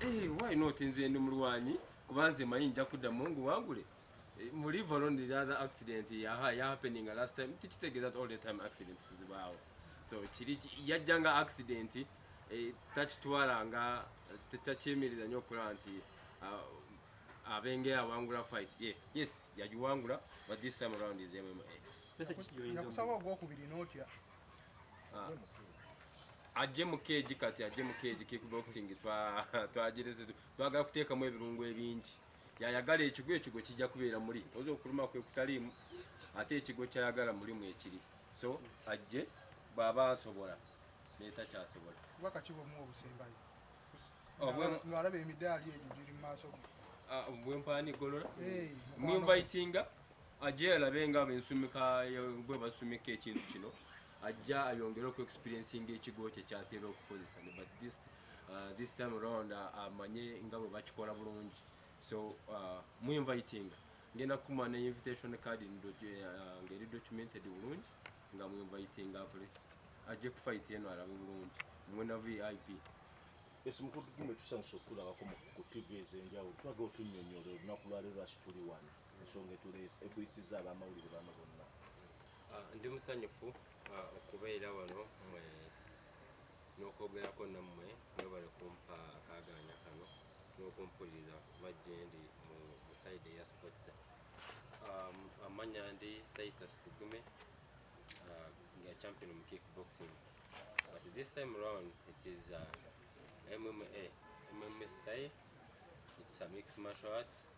Hey, eh, why not nze ndi mulwanyi kuba nze manyi nja kuddamu ngu wangule eh, mu live alone the other accident yaha ya happening last time tikitegeeza all the time accidents zibaawo so kiri yajja nga accident eh, takitwala nga takyemereza nnyo okulaba nti ah, abenge awangula fight ye yes yagiwangula but this time around is mma nakusaba ogwokubiri notya ajje mu keegi kati ajje mu keegi kickboxing twagirizi twagala kuteekamu ebirungo ebingi yayagala ekigo ekigo kijja kubeera muli oza okuluma kwe kutaliimu ate ekigo kyayagala mulimu ekiri so ajje bwaba asobola netakyasobola obwalaba emidaali egyo giri mu maaso ge ah, bwempaani golola mwinvitinga ajje alabe nga bensumika bwe basumika ekintu kino ajja ayongere oku experiencinga ekigo kye kyatera okukozesa ne but this, uh, this time around uh, amanye uh, nga bwe bakikola bulungi so uh, mu inviting ngenda kukuma ne invitation card uh, ngeri documented bulungi nga mu inviting apule ajje kufight eno alabe bulungi mwena vip esi mukulu tugume tusanyusa okukulabako ku tv ezenjawulo tulaga otunyonyola olunaku lwaleero asituli wano ensonga etuleese ekuyisizza abamawulire bano bonna ah, ndi musanyufu ah, okubeera wano mwe n'okwogerako nammwe mwebale kumpa akaganya kano n'okumpuliriza majjendi mu saidi eya sports um, amanya ndi titus tugume uh, nga champion mu kick boxing but this time round it is uh, mma mma style it's a mixed martial arts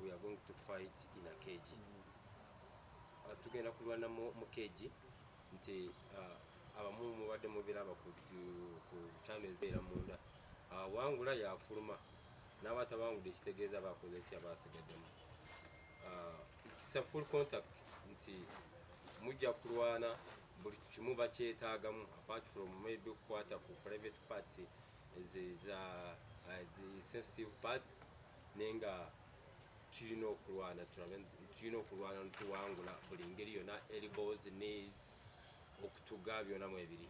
we are going to fight in a cage uh, tugenda kulwana mu cage nti uh, abamu mubadde mubiraba ku channel ezeera munda uh, wangula yafuluma n'aba tabangudde ekitegeeza bakoze ki abasigaddemu it's a full contact nti mujja kulwana buli kimu bakyetaagamu apart from maybe okukwata ku private parts eze za sensitive parts naye nga tulina okulwana tulina okulwana netuwangula buli ngeri yona elbows knees okutuga byona mwebiri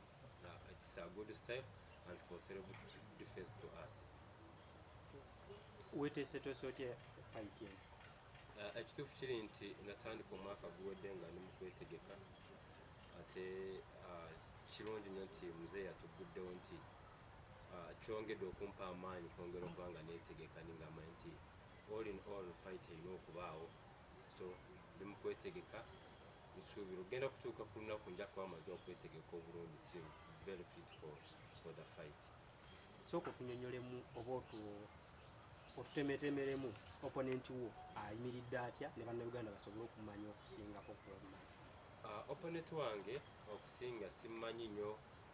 its a good step and for self defense to us wetesetwese otya fight eno uh, ekituufu kiri nti natandika omwaka guwedde nga ndi mukwetegeka ate uh, kirungi nyo nti muzeeyi yatugguddewo nti ah, kyongedde okumpa amaanyi kwongera okuba nga neetegeka ningamba nti all in all fight erina okubaawo so ndi mu kwetegeka nsuubira ogenda kutuuka ku lunaku nja kuba amaze okwetegeka obulungi si very fit for, for the fight sooka otunyonyolemu oba otutemetemeremu opponent wo ayimiridde atya ne bannayuganda basobole okumanya okusingako kuomanyi ah, opponent wange okusinga simmanyi nnyo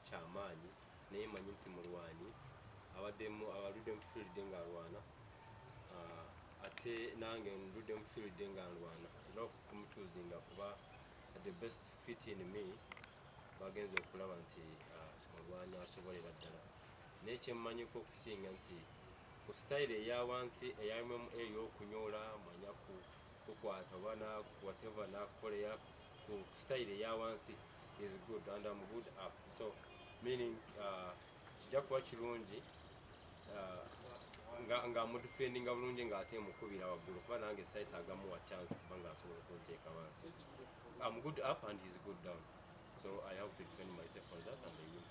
kyamaanyi naye manyi nti mulwanyi abaddemu abaludde mu field nga alwana ah, ate nange ndudde mu field nga alwana era okumutuuzinga kuba the best fit in me bagenze okulaba nti ah, mulwanyi asobolera ddala naye kyemmanyiko okusinga nti ku sitayiro eya wansi eyalimu ey'okunyola manyaku kukwata oba whatever nakukolera ku style eya wansi is good and I'm good up so meaning uh, kijja kuba kirungi uh, nga nga mudifendinga bulungi nga ate mukubira waggulu kuba nange site agamu wa chance kuba nga asobola okunteeka wansi I'm good up and he's good down so I have to defend myself on that and the youth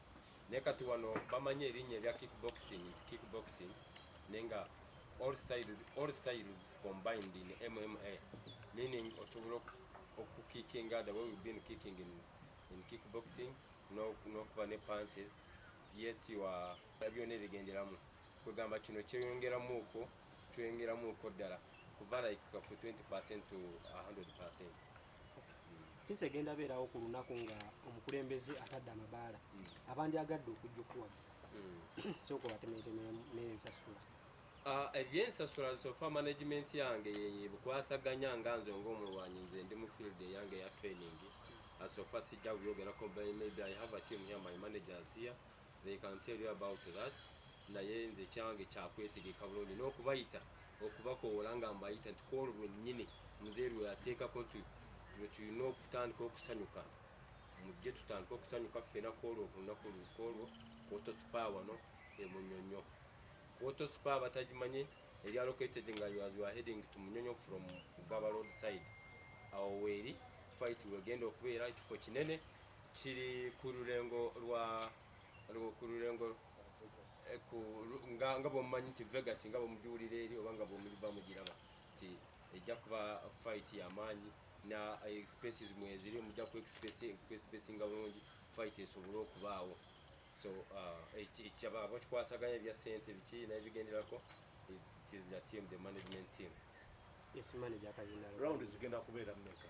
naye kati wano bamanyi erinnya erya kickboxing nti kickboxing naye nga all styles, all styles combined in MMA meaning osobola okukickinga the way we've been kicking in, in kickboxing n'okuba ne punches yet you are byona ebigenderamu kwegamba kino kyeyongeramu okwo kyeyongeramu okwo ddala kuva like ku 20 percent to 100 percent sinsi egenda beerawo ku lunaku nga omukulembeze atadde amabaala hmm. abandyagadde okujja okuwagira hmm. sooka obatemeeteme n'ensasula ah, ebyensasula sofa management yange yebukwasaganya nga nze ngaomulwanyi nze ndi mu field eyange eya training hmm. ah, sofa sijja byogerako maybe i have a team here my managers here they can tell you about that naye nze kyange kyakwetegeka bulungi n'okubayita okubakoowola nga mbayita nti kwolwo lwennyini muzeeyi lwe yateekako nti lwe tulina okutandika okusanyuka mujje tutandike okusanyuka ffena kwolwo olunaku lukwolwo kwotosupa wano e munyonyo kwotosupa abatagimanye eri allocated nga as you are heading to munyonyo from ugaba road side awo weeri fight wegenda okubeera ekifo kinene kiri ku lulengo lwa ku lulengo eh, nga nga bwomumanyi nti vegas nga bwomugiwulira eri oba nga bwomuliba mugiraba nti ejja kuba fight yamaanyi na expenses mweziri mujja ku expense nga bulungi fight esobole okubaawo so uh, ekyaba bakikwasaganya ebya sente biki naye bigenderako it is the team the management team yes manager kayina round zigenda kubeera mmeka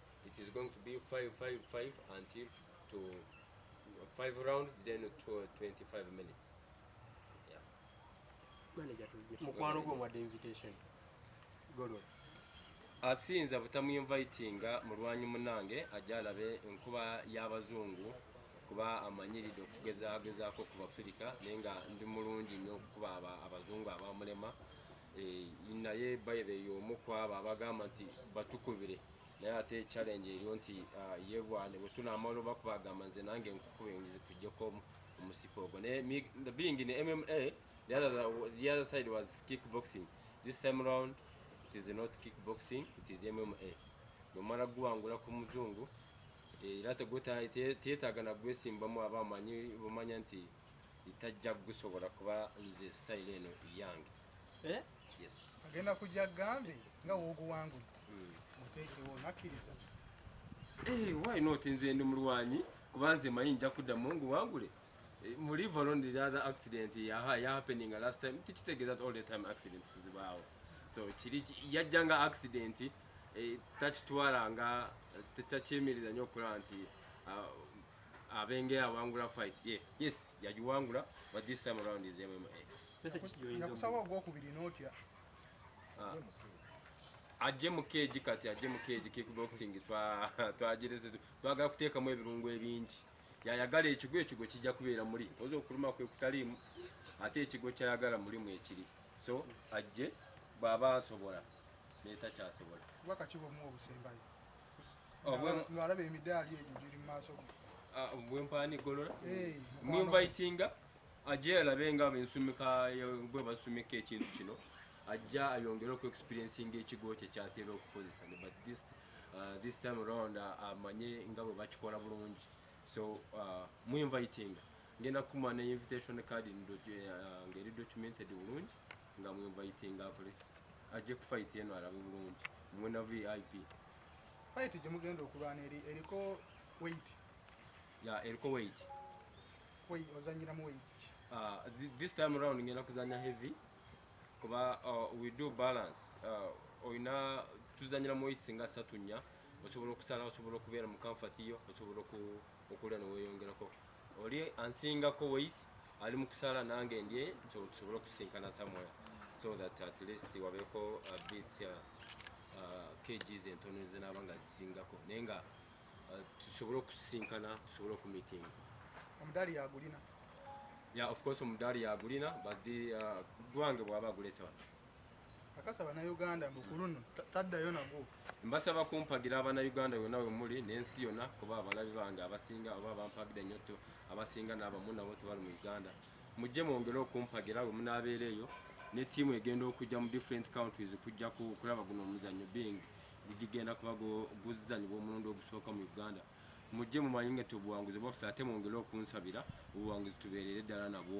It is going to be 5 5 5 until to 5 rounds then to 25 minutes. Yeah. Manager to give mukwano gwo mwadde invitation. Golo. Asinza butamu inviting mulwanyi munange ajalabe nkuba y'abazungu kuba amanyiridde okugezagezaako ku bafirika naye nga ndi mulungi nnyo okukuba abazungu abamulema Eh, naye by the yomu kwabo abagamba nti batukubire naye ate challenge eriyo nti ah, ye bwane bwe tunaamala oba kubagamba nze nange nkukube ngize kujjeko omusipa ogwo naye being in mma the other, the other side was kickboxing this time round it is not kickboxing it is mma nomala guwangula ku muzungu eh, era tegwetaaga nagwesimbamu aba amanyi bumanya nti itajja kugusobola kuba nze style eno iyange eh? yes. agenda kujja gambe nga woguwangudde hmm. muteekewo nakkiriza eh, why not nze ndi mulwanyi kuba nze manyi nja kuddamu nguwangule eh, mu live alone the other accident yaha ya happening last time tikitegeeza all the time accidents zibaawo so kiri yajja nga accident eh, takitwala nga takyemiriza nyo okulaba nti ah, abenge awangula fight ye yeah. yes yagiwangula but this time around is MMA pesa kijoyinda nakusaba ogwo kubiri notya ah. ajje mu keji kati ajje mu keji kickboxing twa twagireze twagala kuteekamu ebirungo ebingi yayagala ekigo ekigo kijja kubeera muli oza okuluma kwe kutaliimu ate ekigo kyayagala mulimu ekiri so ajje bw'aba asobola netakyasobola olaba emidaali egyo giri mu maaso ge ah, bwempaani golola mwinvitinga ajje alabe nga bensumika bwe basumika ekintu kino ajja ayongere oku experiencinga ekigo kye kyatera okukozesa but this, uh, this time around uh, amanye uh, nga bwe bakikola bulungi so uh, mwinvitinga ngenda kukuma ne invitation card uh, ngeri documented bulungi nga mu inviting akole ajje ku fight eno alabe bulungi mwe na VIP fight gye mugenda okulwana eri eriko weight ya eriko weight koi ozanyira mu weight uh, this time around ngenda kuzanya heavy kuba uh, we do balance uh, oyina tuzanyira mu weight singa satu nya osobola okusala osobola okubeera mu comfort yo osobola okulya neweyongerako oli ansingako weight ali mu kusala nange ndye tusobole okusisinkana somewhere so that at least wabeeko a bit uh, uh, kgs entono zinaaba nga zisingako naye nga uh, tusobole okusisinkana tusobole okumitinga omudaali yagulina ya of course omudaali yagulina but uh, gwange bwaba agulese wano akasa bannayuganda mbu ku luno taddayo nagwo mbasaba kumpagira abannayuganda yonna we muli n'ensi yonna kuba abalabi bange abasinga oba bampagira nnyo to abasinga n'abamu nabo tebali mu uganda mujje mwongere okumpagira we munaabeera eyo ne tiimu egenda okujja mu different countries kujja kulaba guno omuzannyo being gigenda kuba guzanyibwa omulundi ogusooka mu uganda mujje mumanyi nga tobuwanguzi bwaffe ate mwongere okunsabira obuwanguzi tubeerere ddala nabwo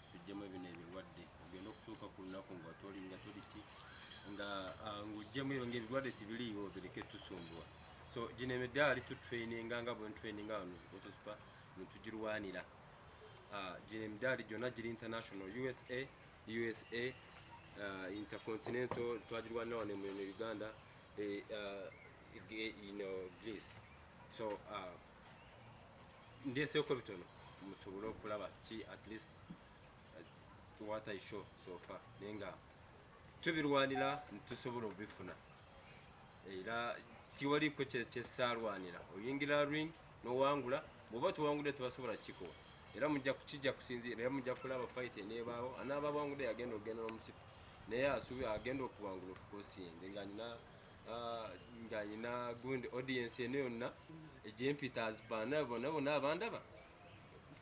tujjemu ebino ebirwadde ogenda okutuuka ku lunaku nga toli nga toli ki nga ah, ng'ojjemu ebyo nga ebirwadde tibiriiwo bireke tusumbua so gino emidaali tutraininga nga bwentraininga wano otusupa netugirwanira ah, gino emidaali gyonna giri international usa usa ah, intercontinental twagirwanira wano mu uganda eh, you know, Greece. So uh, ndeseeko bitono musobole okulaba ki at least uh, what i show so far naye nga tubirwanira nitusobola obifuna era tiwaliko kyesaalwanira oyingira ring nowangula bwoba tuwangudde tebasobola kikowa era mujja kukijja kusinziira era mujja kulaba fight enebaawo anaaba bwangudde yagenda okugenda nomusipi naye asubi agenda okuwangula ofukosiende nga nina Ah, nga nyina gundi audience eno yonna egyempita azibaana bona bona abandaba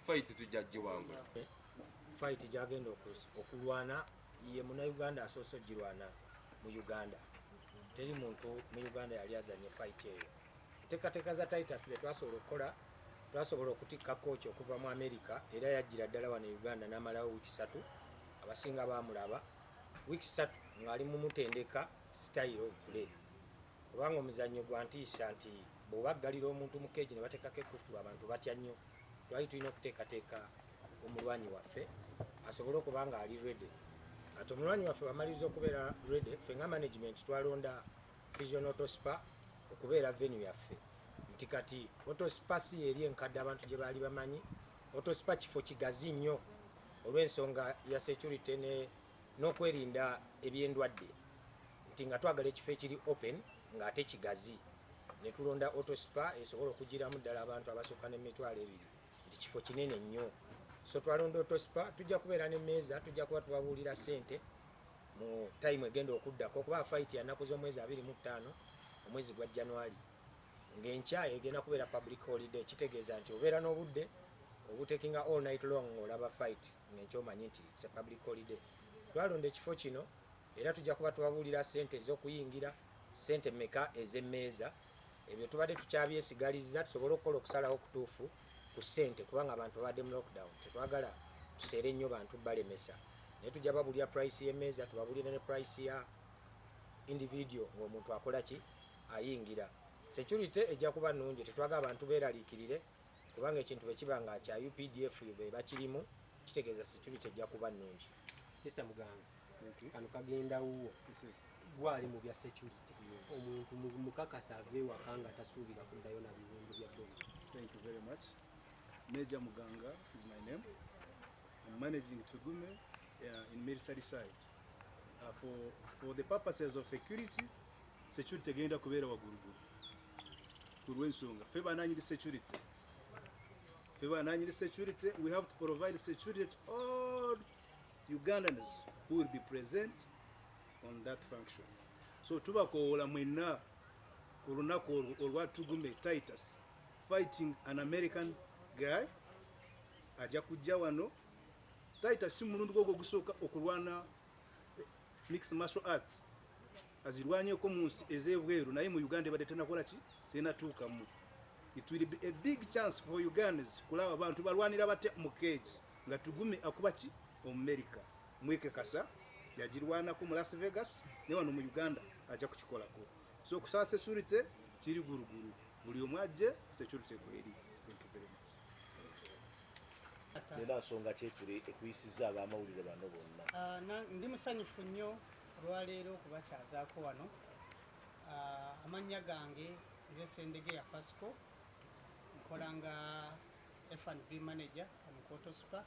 fight tujja giwangula fight gyagenda okulwana ye munauganda asoose ogirwana mu uganda teri muntu mu uganda yali azanye fight eyo enteekateeka za titus ze twasobola okukola twasobola okutikka kooki okuva mu amerika era yajjira ddala wano e uganda n'amalawo wiiki satu abasinga baamulaba wiiki satu ng'ali mumutendeka style of play kubanga omuzannyo gwa ntiisa nti bw'obaggalira omuntu mu keegi ne bateekako ekkufulu abantu batya nnyo twali tulina okuteekateeka omulwanyi waffe asobole okuba nga ali redi ati omulwanyi waffe bamaliriza okubeera redi ffe nga management twalonda vision autospa okubeera venu yaffe nti kati autospa si eri enkadde abantu gye baali bamanyi autospa kifo kigazi nnyo olw'ensonga ya security ne n'okwerinda eby'endwadde nti nga twagala ekifo ekiri open ng'ate kigazi ne tulonda autospa esobola okugiramu ddala abantu abasukka n'emitwalo ebiri nti kifo kinene nnyo so twalonda autospa tujja kubeera n'emmeeza tujja kuba tubabuulira ssente mu tayimu egenda okuddako okuba fayiti yanaku z'omwezi abiri mu ttaano omwezi gwa january ng'enkya egenda kubeera public holiday kitegeeza nti obeera n'obudde obutekinga all night long ng'olaba fayiti ng'enkya omanyi nti it's a public holiday twalonda ekifo kino era tujja kuba tubabuulira ssente ez'okuyingira ssente meka ez'emmeeza ebyo tubadde tukyabyesigalizza tusobole okukola okusalawo okutuufu ku ssente kubanga abantu babadde mu lockdown tetwagala tuseere nnyo bantu balemesa naye tujja babulira price y'emmeeza tubabulire ne price ya individual ng'omuntu akola ki ayingira security ejja kuba nnungi tetwaga abantu beeraliikirire kubanga ekintu bwe kiba nga kya updf be bakirimu kitegeeza security ejja kuba nnungi mr muganga kano kagenda wuwo gwali mu bya security omuntu mukakasa ave ewaka nga tasuubira kuddayo na biwundu bya bomu thank you very much major muganga is my name I'm managing tugume uh, in military side uh, for, for the purposes of security security tegenda kubeera wagulugulu ku lwensonga fe bananyiri security fe bananyiri security we have to provide security to all ugandans who will be present on that function so tubakowoola mwenna ku lunaku olwo olwa tugume titus fighting an american guy ajja kujja wano Taita si mulundi gwo ogusooka okulwana eh, mixed martial arts azirwanyeko mu nsi ez'ebweru naye mu Uganda ebadde tenakola ki tenatuukamu. It will be a big chance for Ugandans kulaba abantu balwanira batya mu keegi nga Tugume akuba ki Omumerika mwekekasa yagirwanako mu Las Vegas ne wano mu Uganda ajja kukikolako so okusaa security kiri guruguru buli omu ajje security kweri thank you very much era nsonga kyekiri ekuyisiza abamawulire bano bonna ah, ndi musanyufu nnyo olwaleero okubakyazaako wano ah, amannya gange nze sendege ya pasco nkola nga fnb manager kamukoto supa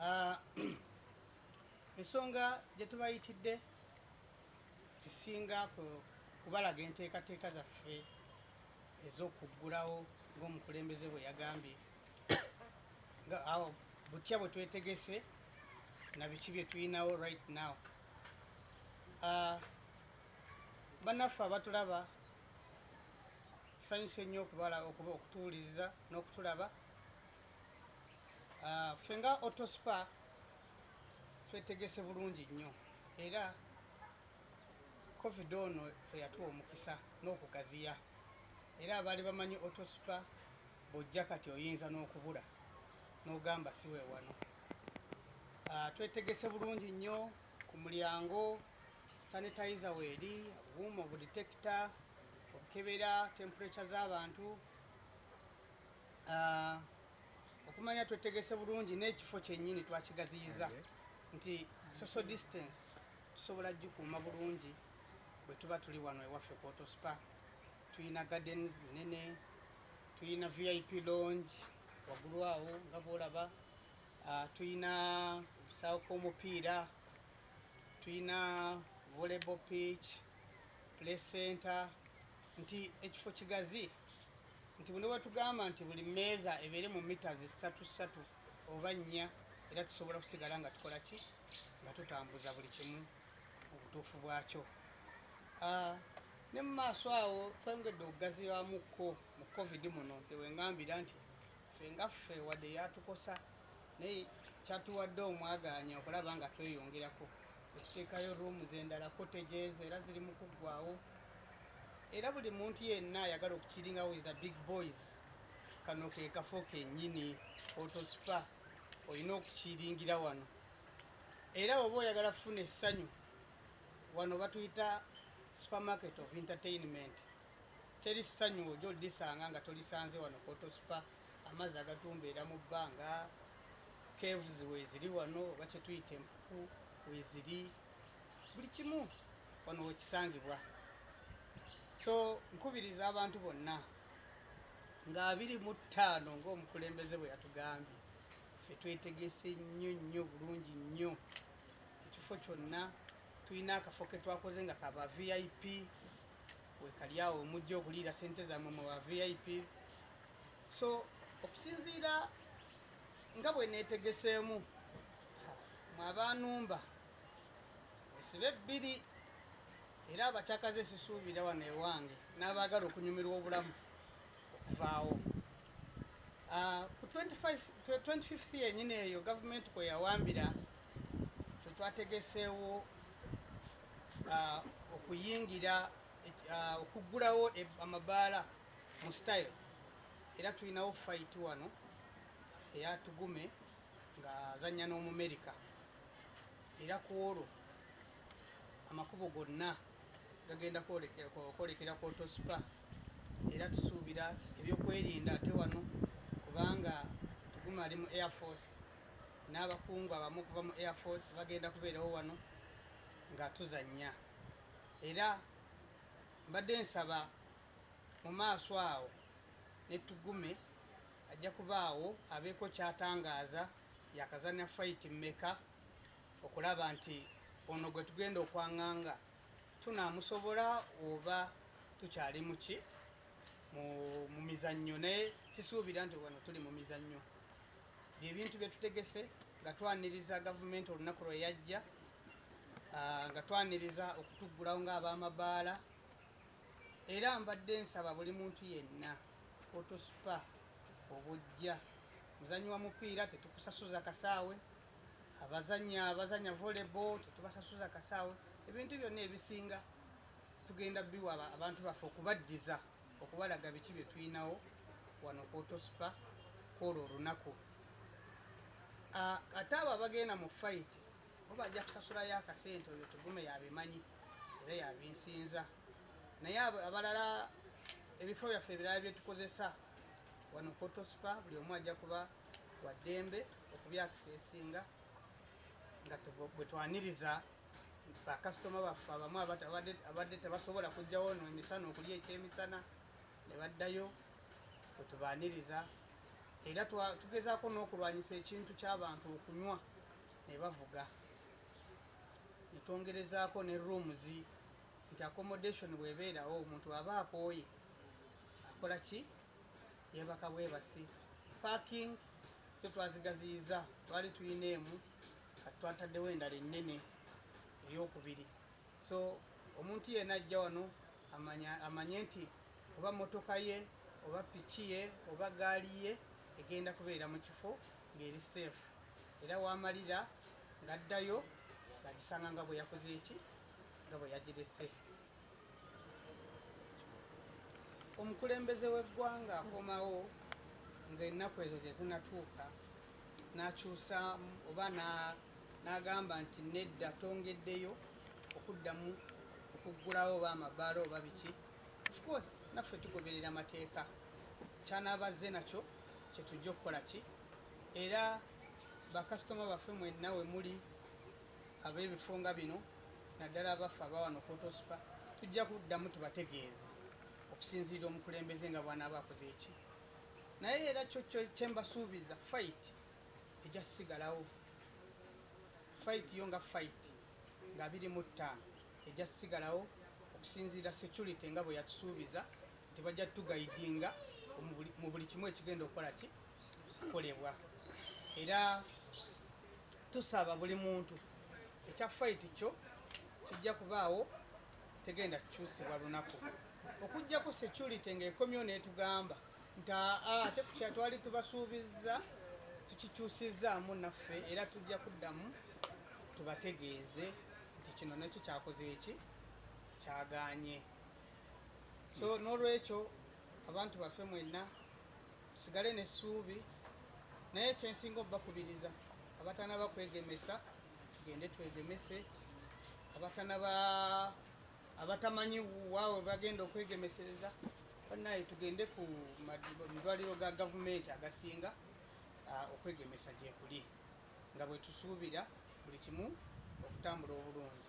ah, ensonga gyetubayitidde esinga kubalaga enteekateeka zaffe ez'okuggulawo ng'omukulembeze bwe yagambye nga awo butya bwe twetegese na biki bye tulinawo right now uh, bannaffe abatulaba tusanyuse nnyo okubala okuba okutuwuliriza n'okutulaba uh, ffe nga autospa twetegese bulungi nnyo era Covid ono ffe yatuwa omukisa n'okugaziya era abaali bamanyi Autospa bw'ojja kati oyinza n'okubula n'ogamba si we wano. Ah, twetegese bulungi nnyo ku mulyango sanitayiza weeri, obuuma obuditekita, okukebera tempurekya z'abantu ah, okumanya twetegese bulungi n'ekifo kyennyini twakigaziyiza nti social distance Tusobola kugikuuma bulungi bwe tuba tuli wano ewaffe ku Auto Spa. Tulina gardens nnene, tulina VIP lounge waggulu awo nga bw'olaba, ah, tulina ebisaawo k'omupiira, tulina volleyball pitch, play center, nti ekifo kigazi nti buli wetugamba nti buli meeza ebeere mu mita zisatu satu oba nnya era tusobola kusigala nga tukola ki nga tutambuza buli kimu mu butuufu bwakyo ah, ne mu maaso awo twongedde okugaziwamukko mu covid muno nze wengambira nti fe nga ffe wadde yatukosa naye kyatuwadde omwagaanya okulaba nga tweyongerako okuteekayo ruumu zendala kotegeeza era ziri mu kuggwawo era buli muntu yenna ayagala okukiringawo the big boys kano ke kafo kennyini otosipa olina okukiringira wano era oba oyagala kufuna essanyu wano batuyita supermarket of entertainment teri ssanyu oja olisanga nga tolisanze wano kotosipa amazzi agatumbeera mu bbanga caves weziri wano oba kyetuyita empuku weziri buli kimu wano wekisangibwa so nkubiriza abantu bonna nga abiri mu ttaano ng'omukulembeze bwe yatugambye ffe twetegese nnyo nnyo bulungi nnyo ekifo kyonna tulina akafo ke twakoze nga kaba vip wekali awo omujja okuliira sente zammwe mu ba vip so okusinziira nga bwe neetegeseemu mwabanumba esibe bbiri era abakyakaze sisuubira wano ewange n'abaagala okunyumirwa obulamu okuvaawo ah, ku 25th yenyini eyo gavumenti kwe yawambira fe twategeseewo ah, okuyingira ah, okuggulawo e, amabaala mu style era tulinawo fayiti wano eyatugume ng'azannya n'omumerika era ku olwo amakubo gonna gagenda kwolekera ku otospa era tusuubira ebyokwerinda ate wano kubanga tuguma ali mu air force n'abakungu abamu okuva mu air force bagenda kubeerawo wano nga tuzannya era mbadde nsaba mu maaso awo ne tugume ajja kubaawo abeeko kyatangaaza yakazanya fayiti mmeka okulaba nti ono gwe tugenda okwanganga tunaamusobola oba tukyali muki mu mizannyo naye kisuubira nti wano tuli mu mizannyo byebintu bye tutegese nga twaniriza gavumenti olunaku lwe yajja ah, nga twaniriza okutuggulawo ng'abamabaala Era mbadde nsaba buli muntu yenna otuspa obujja muzanyi wa mupiira tetukusasuza kasaawe abazanya abazanya volleyball tetubasasuza kasaawe ebintu byonna ebisinga tugenda biwa abantu baffe okubaddiza okubalaga biki bye tulinawo wano kwotospa kwolwo olunaku ate abo abagenda mu fayiti oba ajja kusasulayo akasente oyo tugume yabimanyi era yabinsinza naye abalala ebifo byaffe ebirala byetukozesa wano kotospa buli omu ajja kuba waddembe okubyakisa esinga nga bwetwaniriza bakasitoma baffe abamu abadde tebasobola kujjawo no emisana okulya ekyemisana ne baddayo bwetubaniriza era tugezaako n'okulwanyisa ekintu ky'abantu okunywa ne bavuga ne twongerezaako ne rooms nti accommodation bwebeerawo omuntu aba akooye akola ki yeebaka bwebasi parking zo twazigaziyiza twali tulina emu kati twataddewo endala ennene eyokubiri so omuntu yena ajja wano amanye nti oba motoka ye oba piki ye oba gaali ye egenda kubeera mu kifo ng'eri seefu era wamalira ng'addayo ng'agisanga nga bwe yakoze eki nga bwe yagirese omukulembeze w'eggwanga akomawo ng'ennaku ezo gye zinatuuka n'akyusa oba n'agamba nti nedda tongeddeyo okuddamu okuggulawo oba amabaala oba biki ofcourse naffe tugoberera amateeka kyanaabazze nakyo kyetujja okukola ki era bakasitoma baffe mwenna we muli ab'ebifo nga bino naddala abaffe abawano kotospa tujja kuddamu tubategeeze okusinziira omukulembeze nga bwanaaba akoze eki naye era kyo kyembasuubiza fight ejja sigalawo fight yo nga fight nga biri mu ttaano ejja sigalawo okusinziira security nga bwe yatusuubiza nti bajja tugaidinga mu buli kimu ekigenda okukola ki kukolebwa era tusaba buli muntu ekya fayiti kyo kijja kubaawo tegenda kukyusibwa lunaku okujjako security ng'ekomyewo n'etugamba nti aa ate kukya twali tubasuubizza tukikyusizzaamu naffe era tujja kuddamu tubategeeze nti kino nakyo kyakoze eki kyaganye so n'olwekyo abantu baffe mwenna tusigale n'essuubi naye kyensinga obubakubiriza abatanaba kwegemesa tugende twegemese abatanaba abatamanyi waawe bagenda okwegemesereza banaye tugende ku madwaliro ga gavumenti agasinga ah, okwegemesa gyekuli nga bwetusuubira buli kimu okutambula obulungi